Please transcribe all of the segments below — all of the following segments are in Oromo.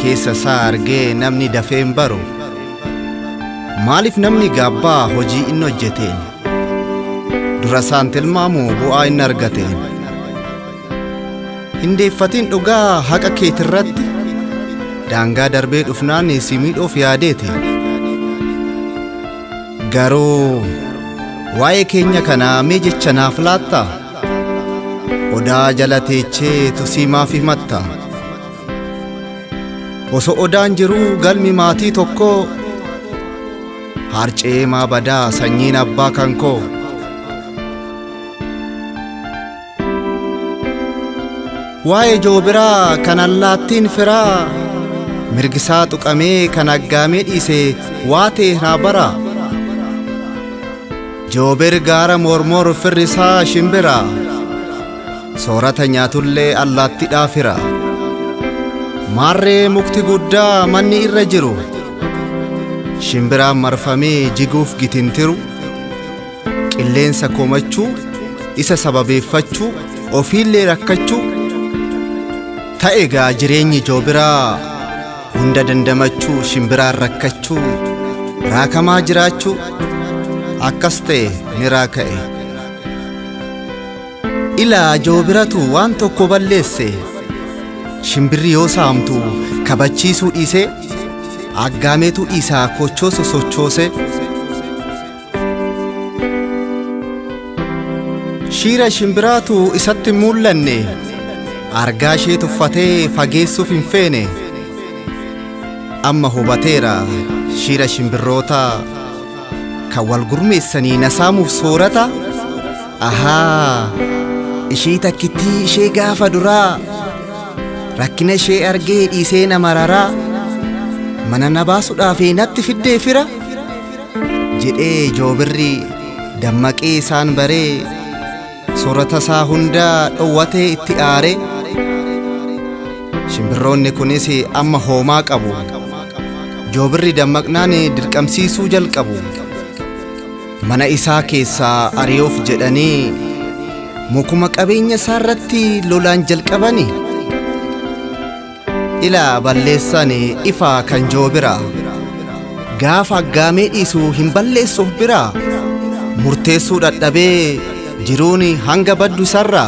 keessa isaa argee namni dafee hin baru maaliif namni gaabbaa hojii inni hojjeteen dura isaan tilmaamu bu'aa inni argateen hin deeffatiin dhugaa haqa keetirratti daangaa darbee dhufnaan si miidhuuf yaadeeti garuu waa'ee keenya kanaa mee jecha naaf laatta odaa jala teechee tusii maaf himatta Oso odaan jiruu galmi maatii tokkoo Haarce'ee maa badaa sanyiin abbaa kan koo Waa'ee joobiraa kan allaattiin firaa Mirgisaa tuqamee kan aggaamee dhiise waa ta'e naa bara Joobir gaara mormor firrisaa shimbira Soorata nyaatullee allaattidhaaf hira. Maarree mukti guddaa manni irra jiru. Shimbiraan marfamee jiguuf gitintiru. Qilleensa komachuu, isa sababeeffachuu, ofiillee rakkachuu. Ta'e gaa jireenyi joobiraa hunda dandamachuu shimbiraan rakkachuu raakamaa jiraachuu akkas ta'e ni raaka'e. Ilaa joobiratu waan tokko balleesse shimbirri yoo saamtu kabachiisuu dhiisee aggaameetu dhiisaa kochoosu sochoose shiira shimbiraatu isatti hin mul'anne argaa ishee tuffatee fageessuuf hin feene amma hubateera shiira shimbirroota kan wal gurmeessanii na saamuuf soorata. Ahaa! Ishii takkittii ishee gaafa duraa Rakkina ishee argee dhiisee na mararaa Mana na baasudhaaf natti fiddee fira Jedhee joobirri dammaqee isaan baree Soorata isaa hundaa dhowwatee itti aaree Shimbirroonni kunis amma hoomaa qabu Joobirri dammaqnaan dirqamsiisuu jalqabu Mana isaa keessaa ari'uuf jedhanii mukuma qabeenya isaa irratti lolaan jalqabani. Ilaa balleessaan ifaa kan joo bira. Gaafa aggaamee dhiisu hin balleessuuf bira. Murteessuu dhadhabee jiruun hanga baddu isarra.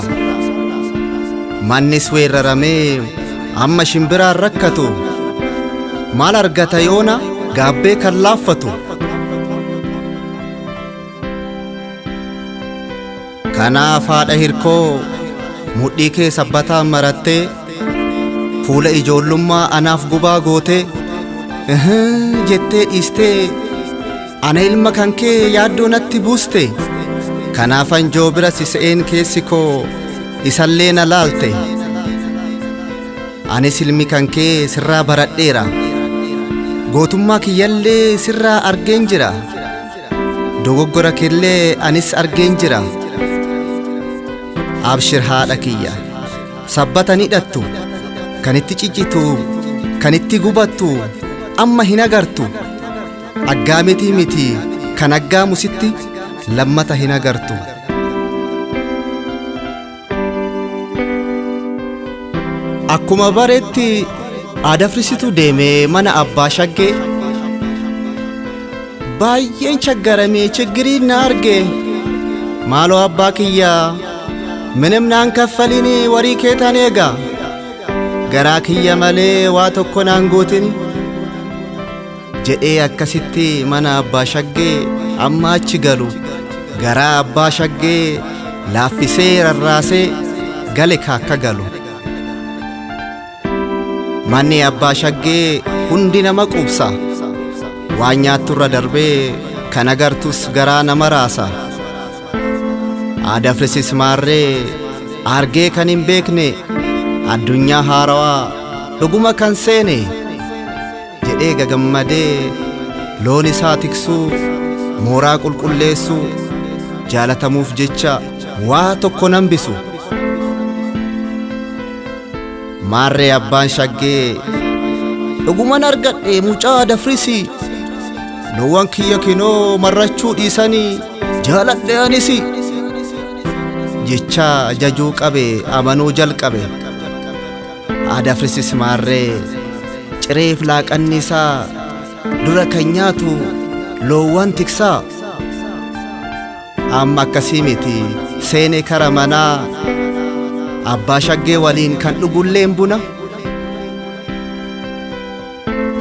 Mannis weeraramee amma shimbiraan rakkatu. Maal argata yoona gaabbee kan laaffatu. Kanaaf haadha hirkoo mudhii kee sabbataan marattee fuula ijoollummaa anaaf gubaa gootee "Ihii" jettee dhiistee ana ilma kan kee yaaddoo natti buuste kanaafan joo bira si se'een keessi koo isallee na laalte. Anis ilmi kan kee sirraa baradheera. Gootummaa kiyyallee sirraa argeen jira. Dogoggora keellee anis argeen jira. Abshir haadha kiyya. Sabbatan hidhattu. Kan itti ciccitu. Kan itti gubattu. Amma hin agartu. Aggaamitii miti kan aggaamu sitti lammata hin agartu. Akkuma baretti aadafrisitu deemee mana abbaa shaggee baay'een chaggaramee chiggiriin na arge maaloo abbaa kiyyaa minim naan kaffaliin warii kee tan eega garaa kiyya malee waa tokko naan gootin jedhee akkasitti mana abbaa shaggee amma achi galu garaa abbaa shaggee laaffisee rarraasee gale kaakka galu manni abbaa shaggee hundi nama quubsa waan nyaatturra darbee kan agartus garaa nama raasa aadafrisis maarree argee kan hin beekne addunyaa haarawaa dhuguma kan seene jedhee gagammadee loon isaa tiksuu mooraa qulqulleessuu jaalatamuuf jecha waa tokko nan bisu maarree abbaan shaggee dhuguman argadhe mucaa dafrisi loowwan kiyya kinoo marrachuu dhiisanii jaaladhe anisi jechaa jajuu qabe amanuu jalqabe Aadafrisis maarree cireef laaqanni isaa dura kan nyaatu loowwan tiksaa amma akkasii miti seene kara manaa abbaa shaggee waliin kan dhugulleen buna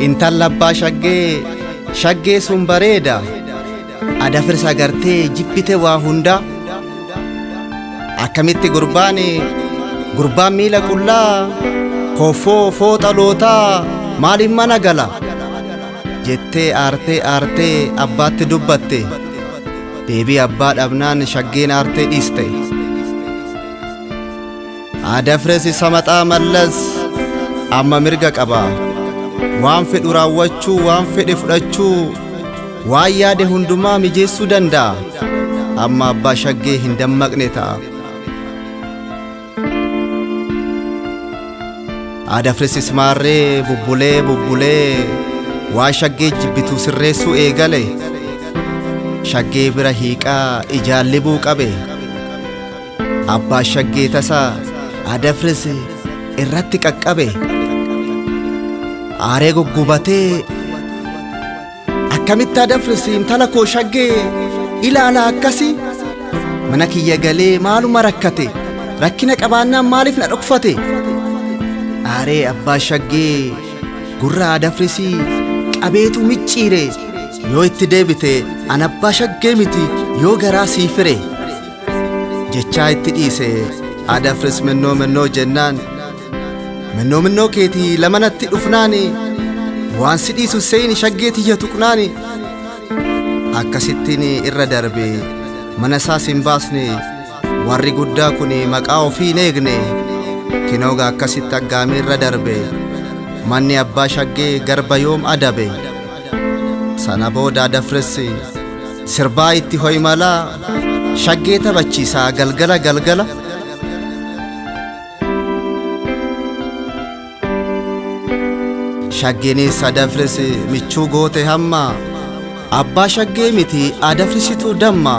intalla abbaa shaggee shaggee sun bareeda Adafirsa agartee jibbite waa hundaa akkamitti gurbaan gurbaan miila qullaa koffoo fooxa lootaa maaliin mana gala jettee aartee aartee abbaatti dubbatte deebii abbaa dhabnaan shaggeen aartee dhiiste. Adafres isa maxaa mallas amma mirga qaba. Waan fedhu raawwachuu, waan fedhe fudhachuu, waan yaade hundumaa mijeessuu danda'a. Amma abbaa shaggee hin dammaqne ta'a. Adafres ismaarree bubbulee bubbulee waan shaggee jibbitu sirreessuu eegale. Shaggee bira hiiqaa ijaan libuu qabe. Abbaa shaggee tasaa adafris irratti qaqqabe aaree guggubatee akkamitti adafris intala koo shaggee ilaala akkasi mana kiyya galee maaluma rakkate rakkina qabaannaan maaliif na dhokfate aaree abbaa shaggee gurra adafrisii qabeetu micciire yoo itti deebite an abbaa shaggee miti yoo garaa sii fire jechaa itti dhiise haadha firis mennoo mennoo jennaan mennoo mennoo keetii lama natti dhufnaani waan si dhiisu seeyni shaggee tiyya tuqnaani akkasittiin irra darbe mana isaas hin baasne warri guddaa kun maqaa ofii hin eegne kinooga akkasitti aggaamee irra darbe manni abbaa shaggee garba yoom adabe. Sana booda dafressi sirbaa itti ho'i malaa shaggee taphachiisaa galgala galgala. Shaggeenis adafris michuu goote hamma abbaa shaggee miti adafrisitu damma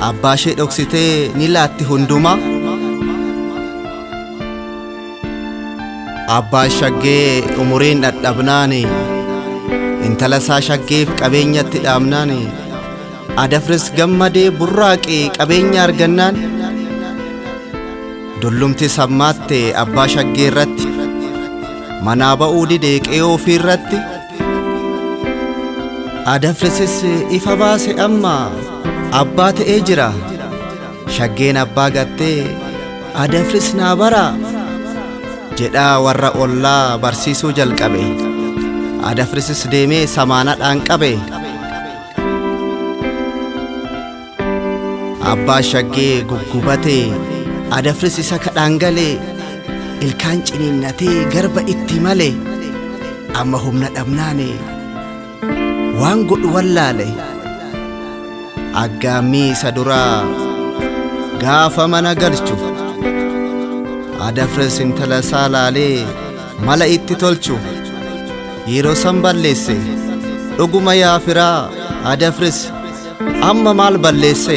abbaa ishee dhoksitee ni laatti hundumaa. Abbaan shaggee umuriin dhadhabnaani intala isaa shaggeef qabeenyatti dhaabnaani adafris gammadee burraaqe qabeenya argannaan dullumti sammaatte abbaa shaggee irratti manaa ba'uu dide qe'ee ofii irratti adafrisis ifa baase amma abbaa ta'ee jira. Shaggeen abbaa gattee adafris naa baraa jedhaa warra ollaa barsiisuu jalqabe adafrisis deemee samaanadhaan qabe abbaa shaggee guggubatee adafris isa kadhaan galee ilkaan ciniinnatee garba itti male amma humna dhabnaane waan godhu wallaale aggaammii isa duraa gaafa mana galchu adafres intala isaa laalee mala itti tolchu yeroo san balleesse dhuguma yaa firaa adafres amma maal balleesse